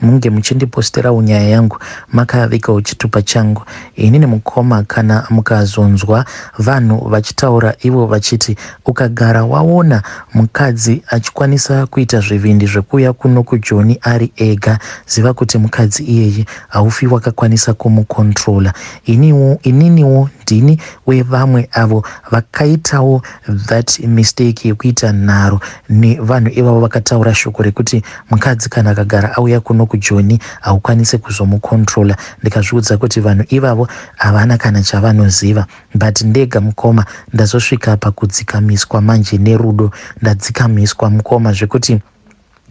Munge muchindiposterawo nyaya yangu makavika uchitupa changu ini nemukoma kana mukazonzwa vanhu vachitaura ivo vachiti ukagara waona mukadzi achikwanisa kuita zvivindi zvekuuya kuno kujoni ari ega ziva kuti mukadzi iyeyi haufi wakakwanisa kumukontrola iniwo ininiwo ndini wevamwe avo vakaitawo that mistake yekuita nharo nevanhu ivavo vakataura shoko rekuti Mkadzi kana akagara auya kuno kujoni haukwanise kuzomu controller ndikazviudza kuti vanhu ivavo havana kana chavanoziva but ndega mkoma ndazosvika pakudzikamiswa manje nerudo ndadzikamiswa mkoma zvekuti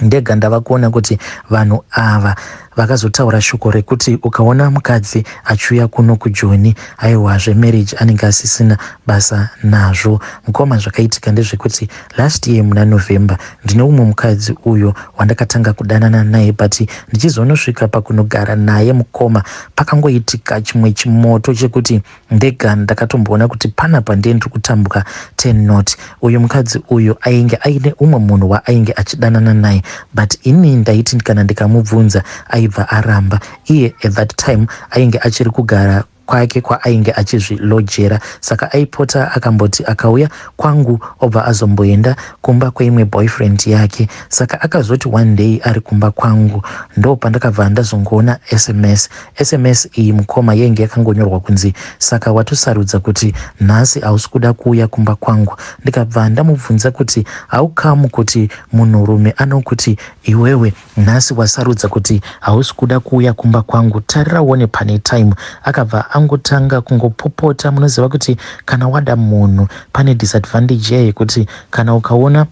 ndega ndava kuona kuti vanhu ava Vakazotaura shoko rekuti ukaona mukadzi achiuya kuno kujoni aiwa zvemarriage anenge asisina basa nazvo. Mukoma zvakaitika ndezvekuti last year muna November ndine umwe mukadzi uyo wandakatanga kudanana naye but ndichizonosvika pakunogara naye mukoma pakangoitika chimwe chimoto chekuti Ndega ndakatomboona kuti panapa ndiye ndiri kutambuka ten not uyu mukadzi uyu ainge aine umwe munhu waainge achidanana naye but ini ndaiti kana ndikamubvunza aibva aramba iye at that time ainge achiri kugara kwake kwaainge achizvilojera saka aipota akamboti akauya kwangu obva azomboenda kumba kweimwe boyfriend yake saka akazoti one day ari kumba kwangu ndo pandakabva ndazongoona sms Sms iyi mukoma yainge yakangonyorwa kunzi saka watosarudza kuti nhasi hausi kuda kuuya kumba kwangu ndikabva ndamubvunza kuti how come kuti munhurume anokuti iwewe nhasi wasarudza kuti hausi kuda kuuya kumba kwangu tarira uone pane time akabva angotanga kungopopota munoziva kuti kana wada munhu pane disadvantage yekuti kana ukaona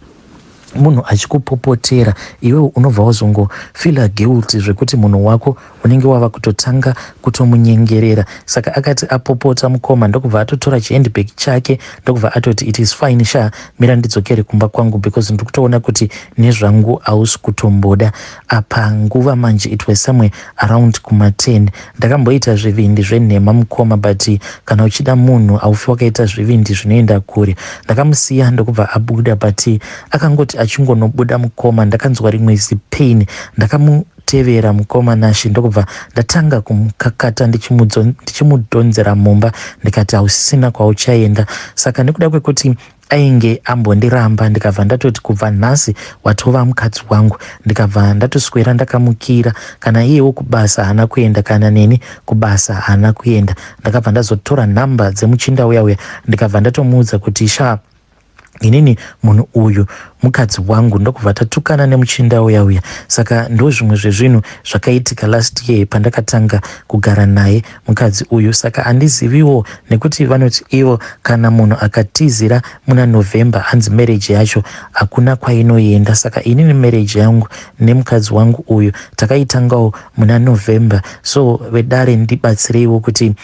munhu achikupopotera iwewe unobva wazongo fila guilty zvekuti munhu wako unenge wava kutotanga kutomunyengerera saka akati apopota mukoma ndokubva atotora chihandbag chake ndokubva atoti it is fine sha mira ndidzokere kumba kwangu because ndiri kutoona kuti nezvangu hausi kutomboda apa nguva manje it was somewhere around kuma 10 ndakamboita zvivindi zvenhema mukoma but kana uchida munhu aufi wakaita zvivindi zvinoenda kure ndakamusiya ndokubva abuda but akangoti achingonobuda mukoma ndakanzwa rimwe zipain ndakamu tevera mukoma nashe ndokubva ndatanga kumukakata ndichimudhonzera mumba ndikati hausisina kwauchaenda saka nekuda kwekuti ainge ambondiramba ndikabva ndatoti kubva nhasi watova mukadzi wangu ndikabva ndatoswera ndakamukira kana iyewo kubasa haana kuenda kana neni kubasa haana kuenda ndakabva ndazotora nhamba dzemuchinda uya uya ndikabva ndatomuudza kuti shaa inini munhu uyu mukadzi wangu ndokubva tatukana nemuchinda uya uya saka ndozvimwe zvezvinhu zvakaitika last year pandakatanga kugara naye mukadzi uyu saka andiziviwo nekuti vanoti ivo kana munhu akatizira muna november hanzi marriage yacho hakuna kwainoenda saka inini marriage yangu nemukadzi wangu uyu takaitangawo muna november so vedare ndibatsireiwo kuti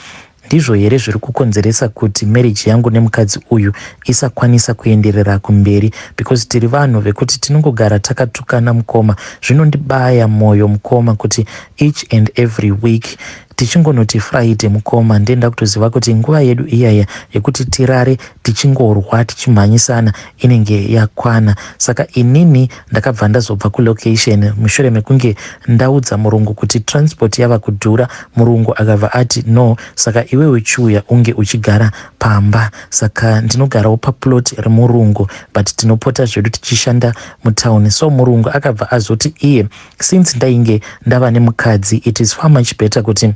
ndizvo here zviri kukonzeresa kuti marriage yangu nemukadzi uyu isakwanisa kuenderera kumberi because tiri vanhu vekuti tinongogara takatukana mukoma zvinondibaya mwoyo mukoma kuti each and every week Tichingonoti Friday mukoma ndiye ndakutoziva kuti nguva yedu iyaya yekuti tirare tichingorwa tichimhanyisana inenge yakwana. Saka inini ndakabva ndazobva kulocation mushure mekunge ndaudza murungu kuti transport yava kudhura. Murungu akabva ati no saka iwewe chiuya unge uchigara pamba. Saka ndinogarawo paplot remurungu but tinopota zvedu tichishanda mutown. So murungu akabva azoti iye Since ndainge ndava nemukadzi it is far much better kuti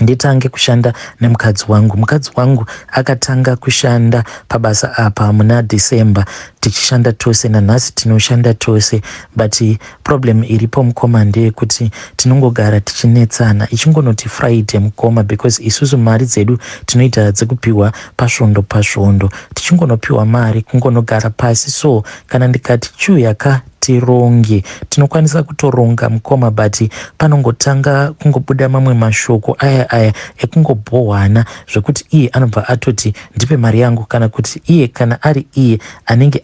nditange kushanda nemukadzi wangu. Mukadzi wangu akatanga kushanda pabasa apa muna December tichishanda tose, nanhasi tinoshanda tose but problem iripo mukoma ndeyekuti tinongogara tichinetsana. Ichingonoti Friday mukoma because isusu mari dzedu tinoita dzekupiwa pasvondo pasvondo, tichingonopiwa mari kungonogara pasi so kana ndikati chiuya ka tironge tinokwanisa kutoronga mukoma but panongotanga kungobuda mamwe mashoko aya aya ekungobhohwana zvekuti iye anobva atoti ndipe mari yangu kana kuti iye kana ari iye anenge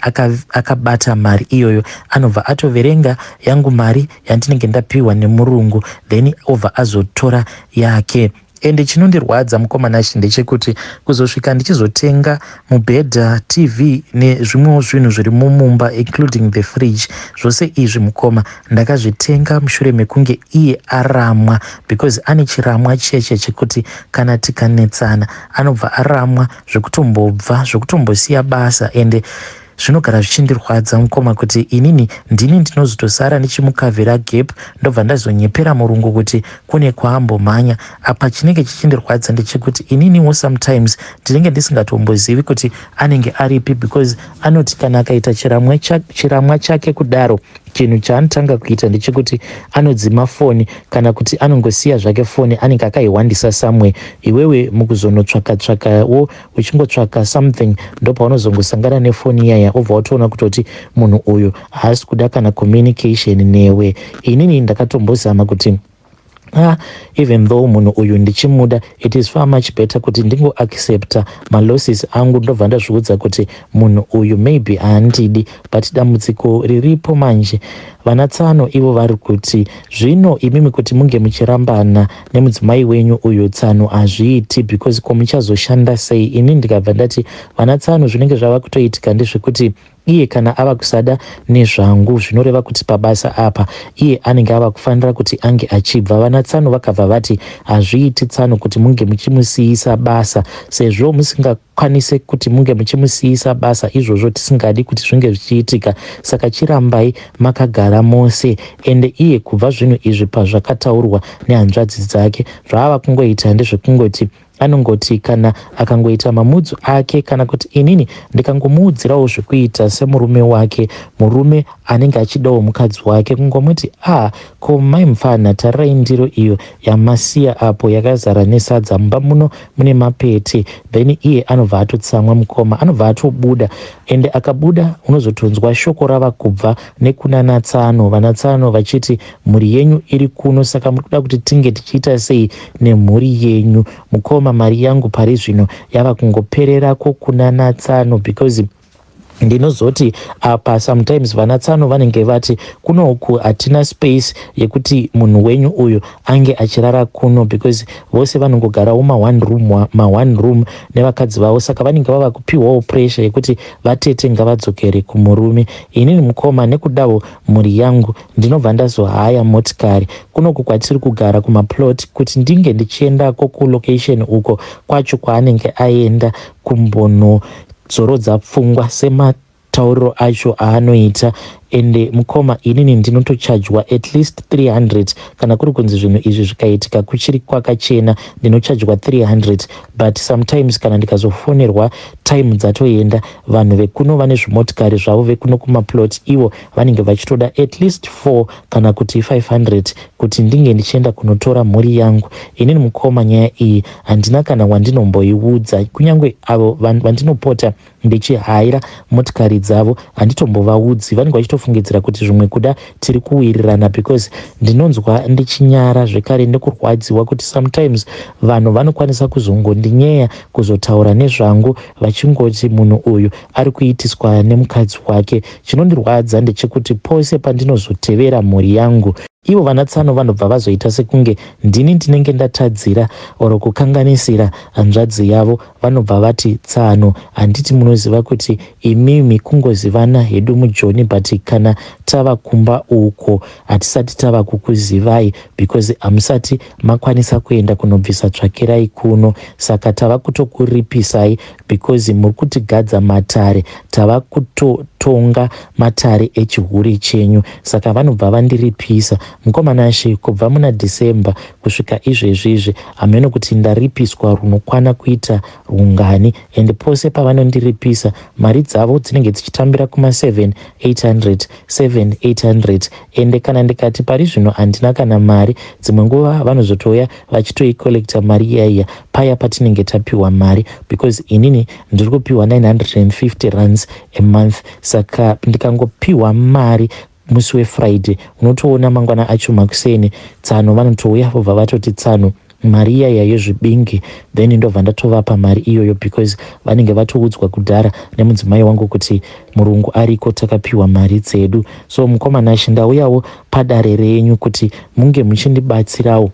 akabata aka mari iyoyo anobva atoverenga yangu mari yandinenge ndapiwa nemurungu then obva azotora yake Ende chinondirwadza mukomana ichi ndechekuti kuzosvika ndichizotenga mubhedha, TV nezvimwewo zvinhu zviri mumumba including the fridge zvose izvi mukoma ndakazvitenga mushure mekunge iye aramwa because ane chiramwa chiya chiya chekuti kana tikanetsana anobva aramwa zvekutombobva zvekutombosiya basa ende Zvinogara zvichindirwadza mukoma kuti inini ndini ndinozotosara ndichimukavhira gap ndobva ndazonyepera murungu kuti kune kwaambomhanya. Apa chinenge chichindirwadza ndechekuti ininiwo sometimes ndinenge ndisingatombozivi kuti anenge aripi because anoti kana akaita chiramwa, cha, chiramwa chake kudaro chinhu chaanotanga kuita ndechekuti anodzima foni kana kuti anongosiya zvake foni anenge akaihwandisa somewhere iwewe mukuzonotsvakatsvakawo uchingotsvaka something ndopaunozongosangana nefoni iyaya obva watoona kutoti munhu uyu haasi kuda kana communication newe inini ndakatombozama kuti Ah, even though munhu uyu ndichimuda it is far much better kuti ndingoaccepta malosses angu ndobva ndazviudza kuti munhu uyu maybe haandidi but dambudziko riripo manje vana tsano ivo vari kuti zvino imimi kuti munge muchirambana nemudzimai wenyu uyu tsano hazviiti because ko muchazoshanda sei ini ndikabva ndati vana tsano zvinenge zvava kutoitika ndezvekuti iye kana ava kusada nezvangu zvinoreva kuti pabasa apa iye anenge ava kufanira kuti ange achibva vana tsano vakabva vati hazviiti tsano kuti munge muchimusiyisa basa sezvo musinga kwanise kuti munge muchimusiyisa basa izvozvo tisingadi kuti zvinge zvichiitika saka chirambai makagara mose ende iye kubva zvinhu izvi pazvakataurwa nehanzvadzi dzake zvaava kungoita ndezvekungoti anongoti kana akangoita mamudzu ake kana kuti inini ndikangomuudzirawo zvekuita semurume wake murume anenge achidawo mukadzi wake kungomuti a ah, ko mai mupfanha tarirai ndiro iyo yamasiya apo yakazara nesadza mumba muno mune mapete then iye anobva atotsamwa mukoma anobva atobuda ende akabuda unozotonzwa shoko rava kubva nekuna natsano vanatsano vachiti mhuri yenyu iri kuno saka muri kuda kuti tinge tichiita sei nemhuri yenyu mukoma mari yangu pari zvino yava kungopererako kuna natsano because ndinozoti apa sometimes vana tsano vanenge vati kuno uku hatina space yekuti munhu wenyu uyu ange achirara kuno because vose vanongogarawo maone room maone room nevakadzi vavo saka vanenge vava kupiwawo pressure yekuti vatete ngavadzokere kumurume inini mukoma nekudawo mhuri yangu ndinobva ndazohaya motikari kunoku kwatiri kugara kumaplot kuti ndinge ndichiendako kulocation uko kwacho kwaanenge aenda kumbono Dzorodza pfungwa sematauriro acho aanoita ende mukoma inini ndinotochajwa at least 300 kana kuri kunzi zvinhu izvi zvikaitika kuchiri kwakachena ndinochajwa 300 but sometimes kana ndikazofonerwa time dzatoenda vanhu vekuno vane zvimotikari zvavo vekuno kumaplot ivo vanenge vachitoda at least 4 kana kuti 500 kuti ndinge ndichienda kunotora mhuri yangu. Inini mukoma nyaya iyi handina kana wandinomboiudza kunyange avo vandinopota ndichihaira motikari dzavo handitombovaudzi vanenge vachitofungidzira kuti zvimwe kuda tiri kuwirirana because ndinonzwa ndichinyara zvekare nekurwadziwa kuti sometimes vanhu vanokwanisa kuzongondinyeya kuzotaura nezvangu vachingoti munhu uyu ari kuitiswa nemukadzi wake Chinondirwadza ndechekuti pose pandinozotevera mhuri yangu, ivo vanatsano vanobva vazoita sekunge ndini ndinenge ndatadzira or kukanganisira hanzvadzi yavo. Vanobva vati, Tsano, handiti munoziva kuti imimi kungozivana hedu mujoni but kana tava kumba uko hatisati tava kukuzivai because hamusati makwanisa kuenda kunobvisa tsvakirai kuno saka tava kutokuripisai because muri kutigadza matare tava kutotonga matare echihure chenyu saka vanobva vandiripisa mukomana she kubva muna december kusvika izvezvi izvi hameno kuti ndaripiswa runokwana kuita rungani and pose pavanondiripisa mari dzavo dzinenge dzichitambira kuma 7 800 7 800 ende kana ndikati pari zvino handina kana mari dzimwe nguva vanozotouya vachitoicollecta mari iya iya paya patinenge tapiwa mari because inini ndiri kupiwa 950 runs a month saka ndikangopiwa mari musi wefriday unotoona mangwana acho makuseni tsano vanotouya vobva vatoti tsano mari iya iya yezvibingi then ndobva ndatovapa mari iyoyo because vanenge vatoudzwa kudhara nemudzimai wangu kuti murungu ariko takapiwa mari dzedu so mukoma nashe ndauyawo padare renyu kuti munge muchindibatsirawo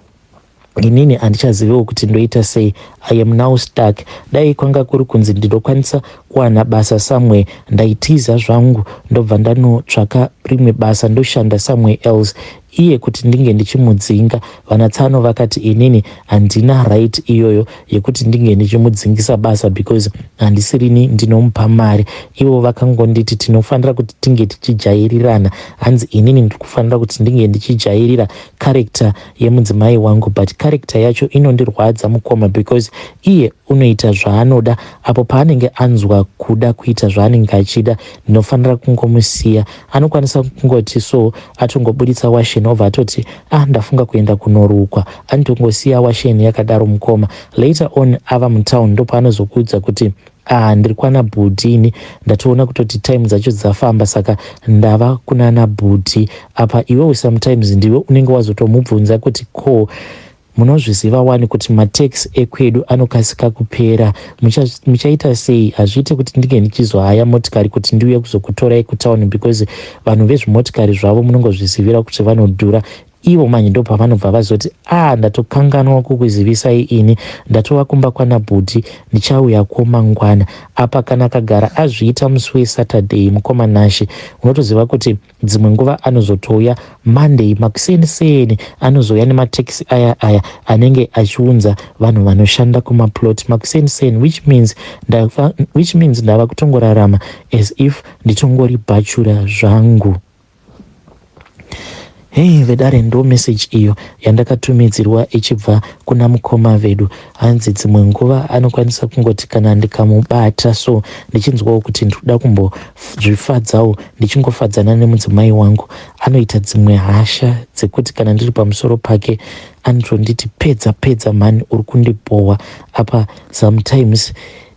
inini handichazivewo kuti ndoita sei i am now stuck dai kwanga kuri kunzi ndinokwanisa kuwana basa somewhere ndaitiza zvangu ndobva ndanotsvaka rimwe basa ndoshanda somewhere else iye kuti ndinge ndichimudzinga. VanaTsano vakati inini handina right iyoyo yekuti ndinge ndichimudzingisa basa because handisirini ndinomupa mari. Ivo vakangonditi tinofanira kuti tinge tichijairirana. Hanzi inini ndiri kufanira kuti ndinge ndichijairira character yemudzimai wangu but character yacho inondirwadza mukoma because iye unoita zvaanoda apo paanenge anzwa kuda kuita zvaanenge achida ndinofanira kungomusiya. Anokwanisa kungoti so Atongoburitsa washen obva atoti ah ndafunga kuenda kunorukwa anotongosiya washen yakadaro mukoma. Later on ava mutown ndopaanozokuudza kuti ah ndiri kwana bhudhi ini ndatoona kutoti time dzacho dzafamba saka ndava kunana bhudhi apa iwewe sometimes ndiwe unenge wazotomubvunza kuti ko Munozviziva wani kuti matax ekwedu anokasika kupera. Mucha, muchaita sei? Hazviite kuti ndinge ndichizohaya motikari kuti ndiuye kuzokutorai kutown because vanhu vezvimotikari zvavo munongozvizivira kuti vanodhura ivo manje ndo pavanobva vazoti a ah, ndatokanganwa kukuzivisai ini ndatova kumba kwana bhuti ndichauya ko mangwana apa kana akagara azviita musi wesaturday mukoma nashe unotoziva kuti Dzimwe nguva anozotouya Monday makuseni seni anozouya nematekisi aya aya anenge achiunza vanhu vanoshanda kumaplot makuseni seni which means ndava, which means ndava kutongorarama as if nditongori bhachura zvangu. Hey vedare ndo message iyo yandakatumidzirwa ichibva kuna mukoma vedu hanzi dzimwe nguva anokwanisa kungoti kana ndikamubata so ndichinzwawo kuti ndikuda kumbozvifadzawo ndichingofadzana nemudzimai wangu anoita dzimwe hasha dzekuti kana ndiri pamusoro pake anotonditi pedza pedza mhani uri kundibhohwa apa sometimes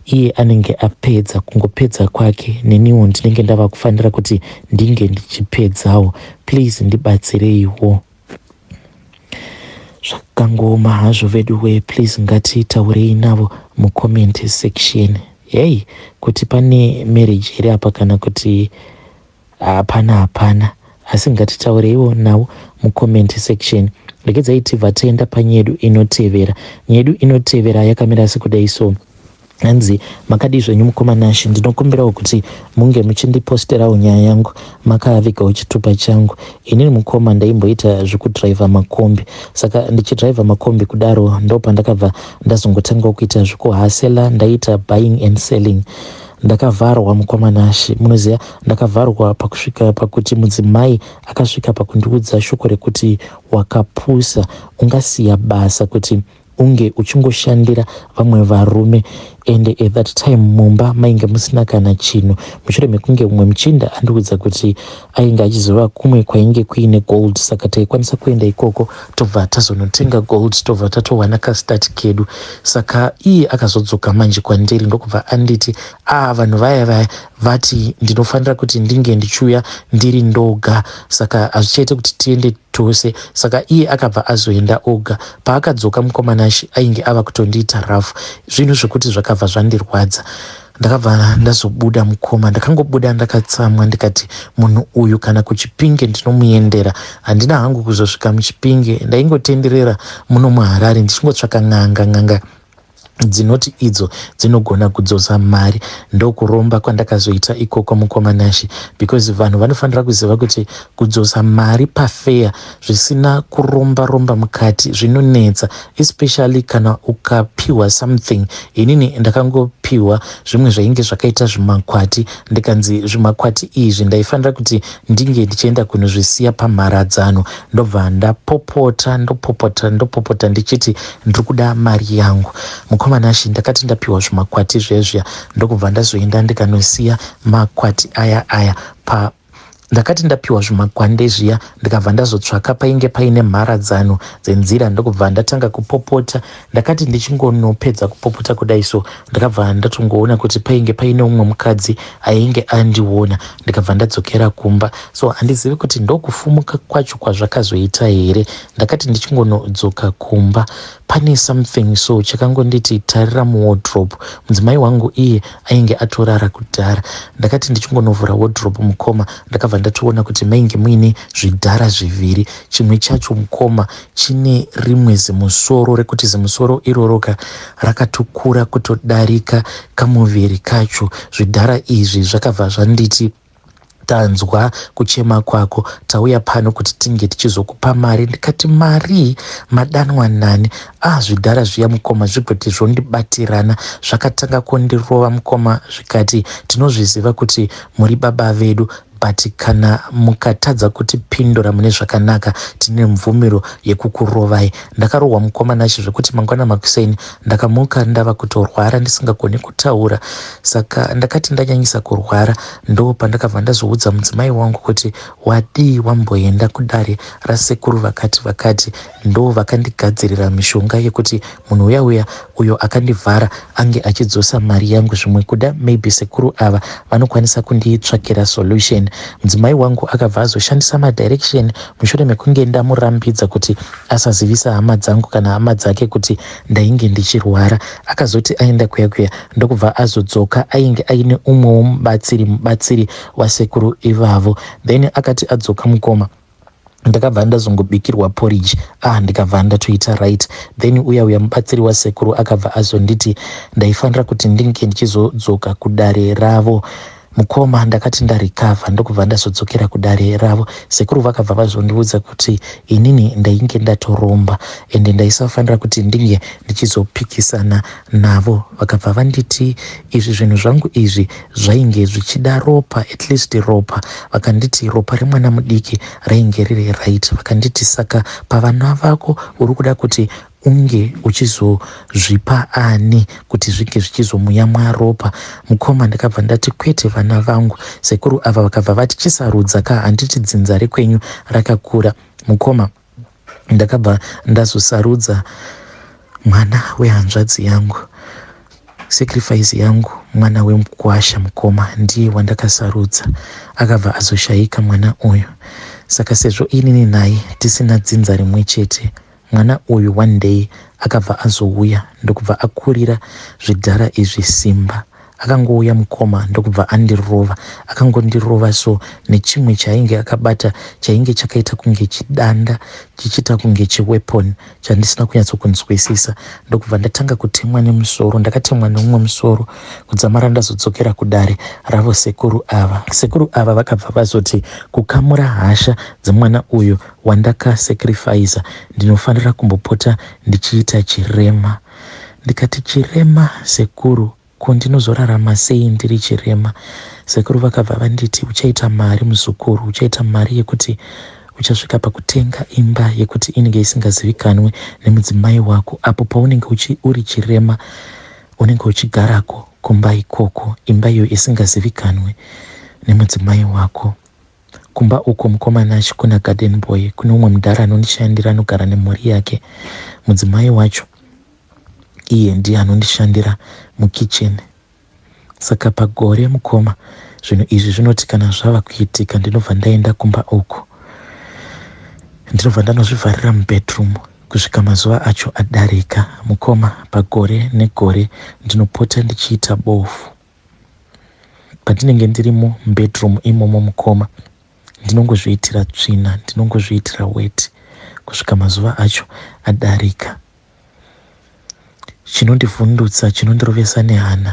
iye anenge apedza kungopedza kwake neniwo ndinenge ndava kufanira kuti ndinge ndichipedzawo please ndibatsireiwo zvakangooma hazvo veduwee please ngatitaurei navo mucomment section hei kuti pane marriage here apa kana kuti hapana hapana asi ngatitaureiwo navo mucomment section regedzai tibva taenda panyedu inotevera nyedu inotevera yakamira sekudai so Hanzi, Makadii zvenyu mukoma Nash, ndinokumbirawo kuti munge muchindiposterawo nyaya yangu makavigawo chitupa changu. Inini mukoma ndaimboita zvekudriver makombi, saka ndichidriver makombi kudaro ndopandakabva ndazongotangawo kuita zvekuhasela, ndaiita buying and selling ndakavharwa mukoma Nash, munoziva ndakavharwa pakusvika pakuti mudzimai akasvika pakundiudza shoko rekuti wakapusa, ungasiya basa kuti unge uchingoshandira vamwe varume ende at that time mumba mainge musina kana chinhu mushure mekunge umwe muchinda andiudza kuti ainge achizova kumwe kwainge kuine gold saka taikwanisa kuenda ikoko tobva tazonotenga gold tobva tatowana kastati kedu saka iye akazodzoka manje kwandiri ndokubva anditi a ah, vanhu vaya vaya vati ndinofanira kuti ndinge ndichiuya ndiri ndoga saka hazvichaite kuti tiende tose saka iye akabva azoenda oga Paakadzoka mukoma Nashy ainge ava kutondiita rough zvinhu zvekuti zvakabva zvandirwadza. Ndakabva ndazobuda mukoma ndakangobuda ndakatsamwa ndikati munhu uyu kana kuchipinge ndinomuyendera handina hangu kuzosvika muchipinge ndaingotenderera muno muharare ndichingotsvaka n'anga n'anga dzinoti idzo dzinogona kudzosa mari ndokuromba kwandakazoita ikoko mukoma nashe because vanhu vanofanira kuziva kuti kudzosa mari pafeya zvisina kuromba romba mukati zvinonetsa especially kana ukapiwa something inini ndakangopiwa zvimwe zvainge zvakaita zvimakwati ndikanzi zvimakwati izvi ndaifanira kuti ndinge ndichienda kunozvisiya pamharadzano ndobva ndapopota ndopopota ndopopota ndichiti ndiri kuda mari yangu mukomana shi ndakati ndapiwa zvimakwati zvezviya ndokubva ndazoenda ndikanosiya makwati aya aya pa ndakati ndapiwa zvimakwande zviya ndikabva ndazotsvaka painge paine mharadzano dzenzira ndokubva ndatanga kupopota Ndakati ndichingonopedza kupopota kudai so ndakabva ndatongoona kuti painge paine umwe mukadzi ainge andiona ndikabva ndadzokera kumba so handizivi kuti ndokufumuka kwacho kwazvakazoita here ndakati ndichingonodzoka kumba pane something so chakangonditi tarira muwodrobe mudzimai wangu iye ainge atorara kudhara ndakati ndichingonovhura wodrobe mukoma ndakabva ndatoona kuti mainge muine zvidhara zviviri chimwe chacho mukoma chine rimwe zimusoro rekuti zimusoro iroroka rakatokura kutodarika kamuviri kacho zvidhara izvi zvakabva zvanditi tanzwa kuchema kwako tauya pano kuti tinge tichizokupa mari ndikati marii madanwa nani ah zvidhara zviya mukoma zvigoti zvondibatirana zvakatanga kundirova mukoma zvikati tinozviziva kuti muri baba vedu But kana mukatadza kutipindura mune zvakanaka tine mvumiro yekukurovai. Ndakarohwa mukoma Nashe zvekuti mangwana makuseni ndakamuka ndava kutorwara ndisingagoni kutaura saka ndakati ndanyanyisa kurwara ndo pandakabva ndazoudza mudzimai wangu kuti wadii wamboenda kudare rasekuru vakati vakati Ndovakandigadzirira mishonga yekuti munhu uya uya uyo akandivhara ange achidzosa mari yangu zvimwe kuda maybe sekuru ava vanokwanisa kunditsvakira solution. Mudzimai wangu akabva azoshandisa madirection mushure mekunge ndamurambidza kuti asazivisa hama dzangu kana hama dzake kuti ndainge ndichirwara. Akazoti aenda kuya kuya ndokubva azodzoka ainge aine umwewo mubatsiri mubatsiri wasekuru ivavo then akati adzoka mukoma ndakabva ndazongobikirwa porridge ah ndikabva ndatoita right then uya uya mubatsiri wasekuru akabva azonditi ndaifanira kuti ndinge ndichizodzoka kudare ravo mukoma ndakati ndarikavha ndokubva ndazodzokera kudare ravo sekuru vakabva vazondiudza kuti inini ndainge ndatoromba ende ndaisafanira kuti ndinge ndichizopikisana navo vakabva vanditi izvi zvinhu zvangu izvi zvainge zvichida ropa at least ropa vakanditi ropa remwana mudiki rainge riri right vakanditi saka pavana vako uri kuda kuti unge uchizozvipa ani kuti zvinge zvichizomuyamwa ropa mukoma ndakabva ndati kwete vana vangu sekuru ava vakabva vati chisarudza ka handiti dzinza rekwenyu rakakura mukoma ndakabva ndazosarudza mwana wehanzvadzi yangu sacrifice yangu mwana wemukwasha mukoma ndiye wandakasarudza akabva azoshayika mwana uyu saka sezvo inini naye tisina dzinza rimwe chete mwana uyu one day akabva azouya ndokubva akurira zvidhara izvi simba Akangouya mukoma ndokubva andirova. Akangondirova so nechimwe chaainge akabata chainge chakaita kunge chidanda chichiita kunge chiweapon chandisina kunyatsokunzwisisa ndokubva ndatanga kutemwa nemusoro. Ndakatemwa neumwe musoro kudzamara ndazodzokera kudare ravo sekuru ava. Sekuru ava vakabva vazoti kukamura hasha dzemwana uyu wandakasekirifaisa ndinofanira kumbopota ndichiita chirema. ndikati chirema sekuru ko ndinozorarama sei ndiri chirema sekuru vakabva vanditi uchaita mari muzukuru uchaita mari yekuti uchasvika pakutenga imba yekuti inenge isingazivikanwe nemudzimai wako apo paunenge uchi uri chirema unenge uchigarako kumba ikoko imba iyo isingazivikanwe nemudzimai wako Kumba uko mukoma Nash kuna garden boy kune umwe mudhara anondishandira anogara nemhuri yake. Mudzimai wacho iye ndiye anondishandira mukitchen. Saka pagore mukoma zvinhu izvi zvinoti kana zvava kuitika ndinobva ndaenda kumba uko. Ndinobva ndanozvivharira mubedroom kusvika mazuva acho adarika. Mukoma pagore negore ndinopota ndichiita bofu. Pandinenge ndirimo mubedroom imomo mukoma ndinongozviitira tsvina ndinongozviitira weti kusvika mazuva acho adarika. Chinondivhundutsa chinondirovesa nehana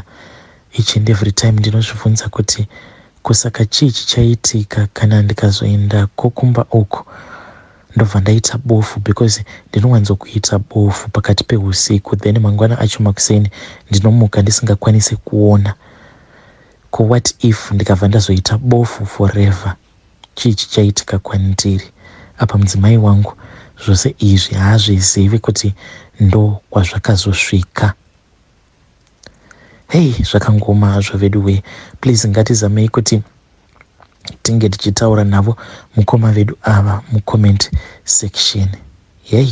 each and every time ndinozvibvunza kuti kusaka chii chichaitika kana ndikazoendako kumba uku Ndobva ndaita bofu because ndinowanzokuita bofu pakati pehusiku then mangwana acho makuseni ndinomuka ndisingakwanise kuona. Ko what if ndikabva ndazoita bofu forever? Chii chichaitika kwandiri? Apa mudzimai wangu zvose izvi haazvizivi kuti ndokwazvakazosvika. Hei zvakangoma hazvo veduwee, please ngatizamei kuti tinge tichitaura navo mukoma vedu ava mucomment section. Hei.